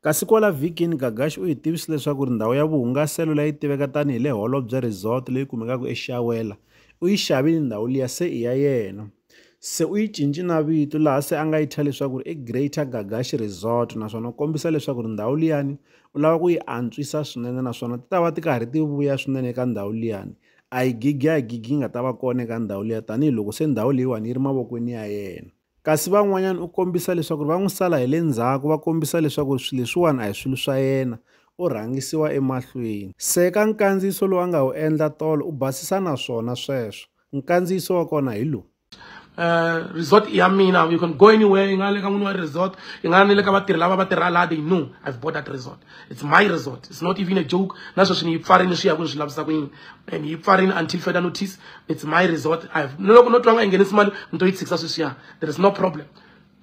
Kasi kwala vhikini, Gagashi u hi tivise leswaku ri ndhawu ya vuhungaselo leyi yi tiveka tani hi le Holobye Resort leyi kumekaka eShawela, u yi xavile ndhawu liya se i ya yena. Se u yi cince na vito laha se a nga yi thya leswaku ri i Greater Gagashi Resort naswona u kombisa leswaku ri ndhawu liyani u lava ku yi antswisa swinene naswona ti ta va ti karhi ti vuya swinene eka ndhawu liyani. A hi gigi a hi gigi yi nga ta va kona eka ndhawu liya tanihiloko se ndhawu leyiwani yi ri mavokweni ya yena. Kasi van'wanyana u kombisa leswaku ri va n'wi sala hi le ndzhaku va kombisa leswaku ri swilo leswiwani a hi swilo swa yena, u rhangisiwa emahlweni. Seka nkandziyiso lowu a nga wu endla tolo u basisa na swona sweswo. Nkandziyiso wa kona hi lowu. Resort i ya mina, you can go anywhere, yi nga le ka n'wini wa resort, yi nga ni le ka vatirhi lava va tirha laha, they know I've bought that resort. it's my resort it's not even a joke na sweswi ni yi pfarile swi ya ku ni swi lavisa ku yini and yi pfarile until further notice it's my resort i have ni loko no twa nga yi nghenisi mali ni to yi tshikisa sweswiya there is no problem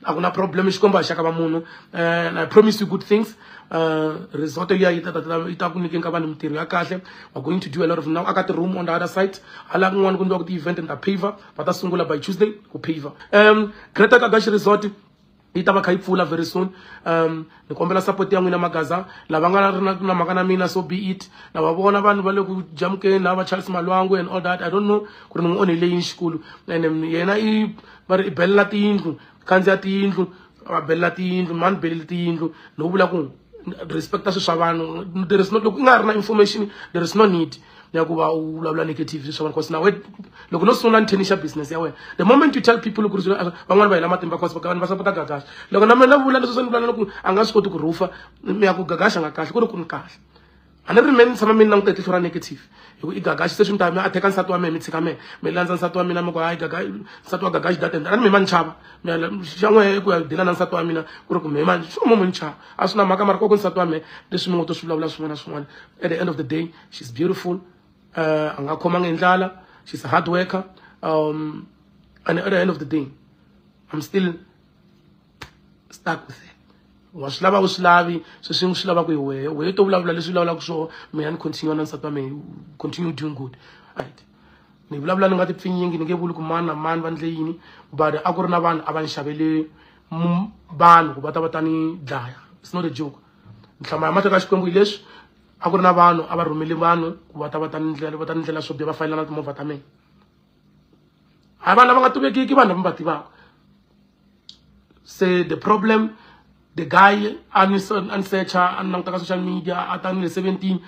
a ku na problem xikombo a xaka va munhu and i promise you good things uh, resort liya yi yi ta ku nyikeni ka vanhu mintirho ya kahle we're going to do a lot of now aka ti-room on the other side hala kun'wana ku ni va ku ti-event and ta paver va ta sungula by tuesday ku paver um greater kagaxi resort yi ta va kha yi pfula very soon um ni kombela support ya n'wina magaza lava nga ri na mhaka na mina so be it na va vona vanhu va le ku jamukeni na va charles malwangu and all that i don't know ku ri ni n'wi onhele yini xikulu and yena i va ri i belela tiyindlu khandziya tiyindlu va belela tiyindlu mani beleli tiyindlu no vula ku respecta swilo swa vanhu there is no loko i nga ri na information there is no need ya ku va u vulavula negative swi swona because nawe loko no sungula ni tennis ya business ya wena the moment you tell people ku ri van'wana va hela matimba because va va sapota gagaxa loko na mina vula leswi swi ni vulavula ku a nga swi koti ku rhufa mi ya ku gagaxa nga kahle ku ri ku ni kahle a ni ri mina ni tshama mi ni languta hi tihlo ra negative hi ku i gagaxi se swi ni ta mi a theka nsati wa mina mi tshika mina mi landza nsati wa mina mi ku hayi gaga nsati wa gagaxi data a ni mi ma ni chava mi xa n'we ku ya dila na nsati wa mina ku ri ku mi ma swi mo mi ni chava a swi na mhaka mara koko nsati wa mina leswi mi ngo to swi vulavula swin'wana na swin'wana at the end of the day she's beautiful uh, a nga khomanga hi ndlala she's a hard worker um, and at the end of the day i'm still stuck with her wa swi lava u swi lavi sweswi ni swi lavaka hi wehe wehe to vulavula leswi vulavulaka swona mina ni continue na nsati wa mina continue doing good right ni vulavula ni nga ti pfinyingi ni nge vuli ku mani na mani va ndle yini but a ku ri na vanhu a va ni xavele vanhu ku va ta va ta ni dlaya it's not a joke nhlama ya mateka xikwembu hi leswi a ku ri na vanhu a va rhumeli vanhu ku va ta va ta ni ndlela va ta ni ndlela swo biha va fayelana timovha ta mina hayi vanhu lava nga tivekiki vanhu lava va tivaka se the problem the guy a ni a ni secha a ni languta ka social media a ta ni le seventeen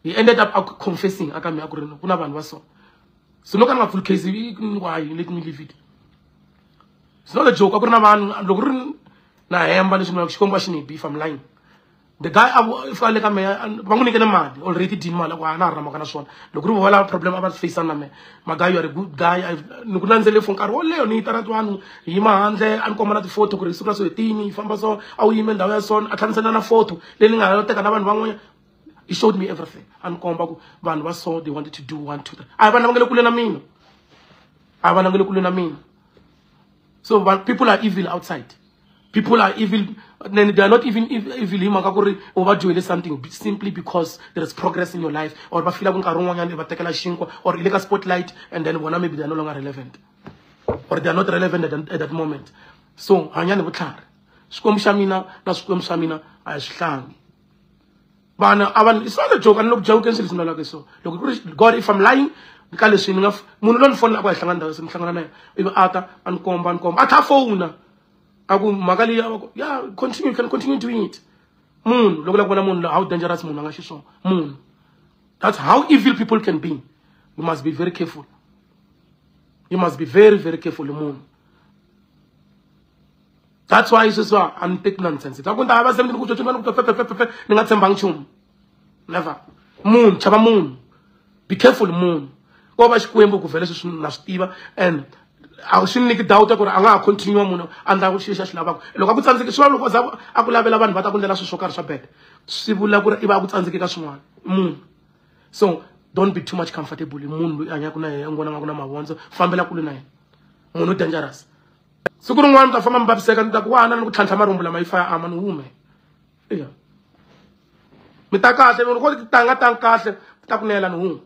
he ended up a confessing aka mi a ku ri ku na vanhu va so so loko a ni nga pfuli case i ni wahi leti ni livile it's not a joke a ku ri na vanhu loko ri na hemba leswi mina xikombo a xi ni beef am lying the guy a fika le ka mehe va n'wi nyikele mali already dini mali a ku a na ha ri na mhaka na swona loko ri vo valava problem a va faceana na mehe magayi you are a good guy ni ku landzele for nkarhi wo leyo ni yitana twanu hi yima handle a ni komba na ti-photo ku ri siku ra so hi tini hi famba so a wu yime ndhawu ya sona a tlhanisela na photo leyi ni nga ha teka na vanhu van'wanyana he showed me everything a ni komba ku vanhu va so they wanted to do one two three a hi vanhu lava nga le kule na mina a va langele kule na mina so but people are evil outside people are evil and they are not even evil hi mhaka ku ri u va dyohele something simply because there is progress in your life or va fila ku nkarhi wun'wanyana va tekela xinkwa or i le ka spotlight and then vona maybe they are no longer relevant or they are not relevant at, at that moment so hanyani vutlhari xikwembu xa mina na swikwembu swa mina a hi swi hlangi vanhu a vanhu it's not a joke a ni le ku jawukeni swilo leswi ni lalaka hi swona loko ku ri god if i'm lying ka leswi ni nga munhu loyi ni fonela ku a hi hlangana ndhawu se ni hlangana na yena ivi a ta a ni komba a ni komba a tlha fona a ku mhaka leyi a va ku ya continue you can continue doing it munhu loko la ku vona munhu how dangerous munhu a nga xiswona munhu that's how evil people can be you must be very careful you must be very very careful munhu that's why sweswiwa a ni teki nonsense ta ku ni ta va se ni ku tshotshona ni ku fefefefefe ni nga tshembangi nchumu never munhu chava munhu be careful munhu ko va xikwembu ku vhele sweswi na swi tiva and a swi ni nyiki doubt ya ku ri a nga ha continue munhu a ndla ku xilo xa xi lavaka loko a ku tsandzeki swi va loko za a ku lavela vanhu va ta ku ndlela swilo swo karhi swa bad swi vula ku ri i va a ku tsandzeki ka swin'wana munhu so don't be too much comfortable hi munhu loyi a hanyaka na yena n'wana nga ku na mavondzo fambela kule na yena munhu dangerous siku rin'wana ni ta famba mi vaviseka ni ta ku wana ni ku tlhantlha marhumbu lama yi fa ya ama ni hume iya mi ta kahle loko ti tanga tanga kahle mi ta kunela ni hume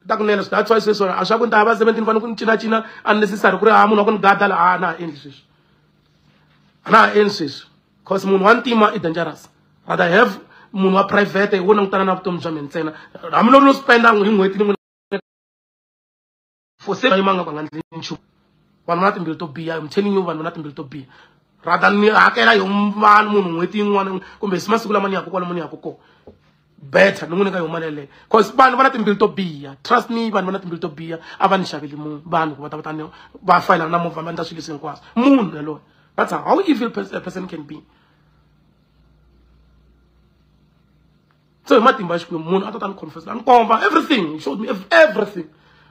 mi ta kunela so that's why sweswo a swa ku ni ta ya va seventeen fanele ku ni cinacina unnecessary ku ri ha munhu wa ku ni gada la a na ha endli sweswi a na ha endli sweswi cause munhu wa ntima i dangerous rather have munhu wa private hi wo langutana na vutomi bya mina ntsena hambiloko no spenda hi n'hweti ni for se va yimanga va nga ndli nchumu vanhu va na timbilu to biha im telling you vanhu va na timbilu to biha rather ni hakela yo vanhu munhu n'hweti yin'wana kumbe si masiku lama ni yaka kwalomu ni yaka kona better ni n'wi nyika yo mali yeleyo cause vanhu va na timbilu to biha trust me vanhu va na timbilu to biha a va ni xaveli munhu vanhu ku va ta va ta ni va fayelana na movha va endla swilo leswi hinkwaswo munhu yaloye that's how evil a person can be so hi matimba ya xikwembu munhu a ta ta ni confess a ni komba everything he showed me everything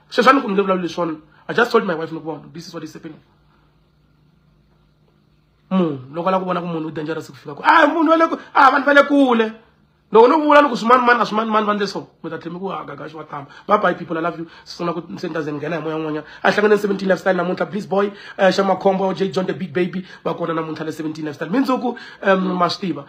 sweswi a ni ku ni nge vulavuli leswona i just told my wife ni ku vona this is what is happening munhu loko a lava ku vona ku munhu u dangerous ku fika ku a munhu wa le ku a vanhu va le kule loko no vula ni ku swimani mani a swimani mani va ndle so mi ta tlhemi ku hagaga xi wa tama va bye people i love you sisona ku se ni ta ze ni nghena hi moya n'wanyana a hlangane ni seventeen lifestyle namuntlha please boy xa makhombo j john the big baby va kona namuntlha le seventeen lifestyle mindzuku um ma swi tiva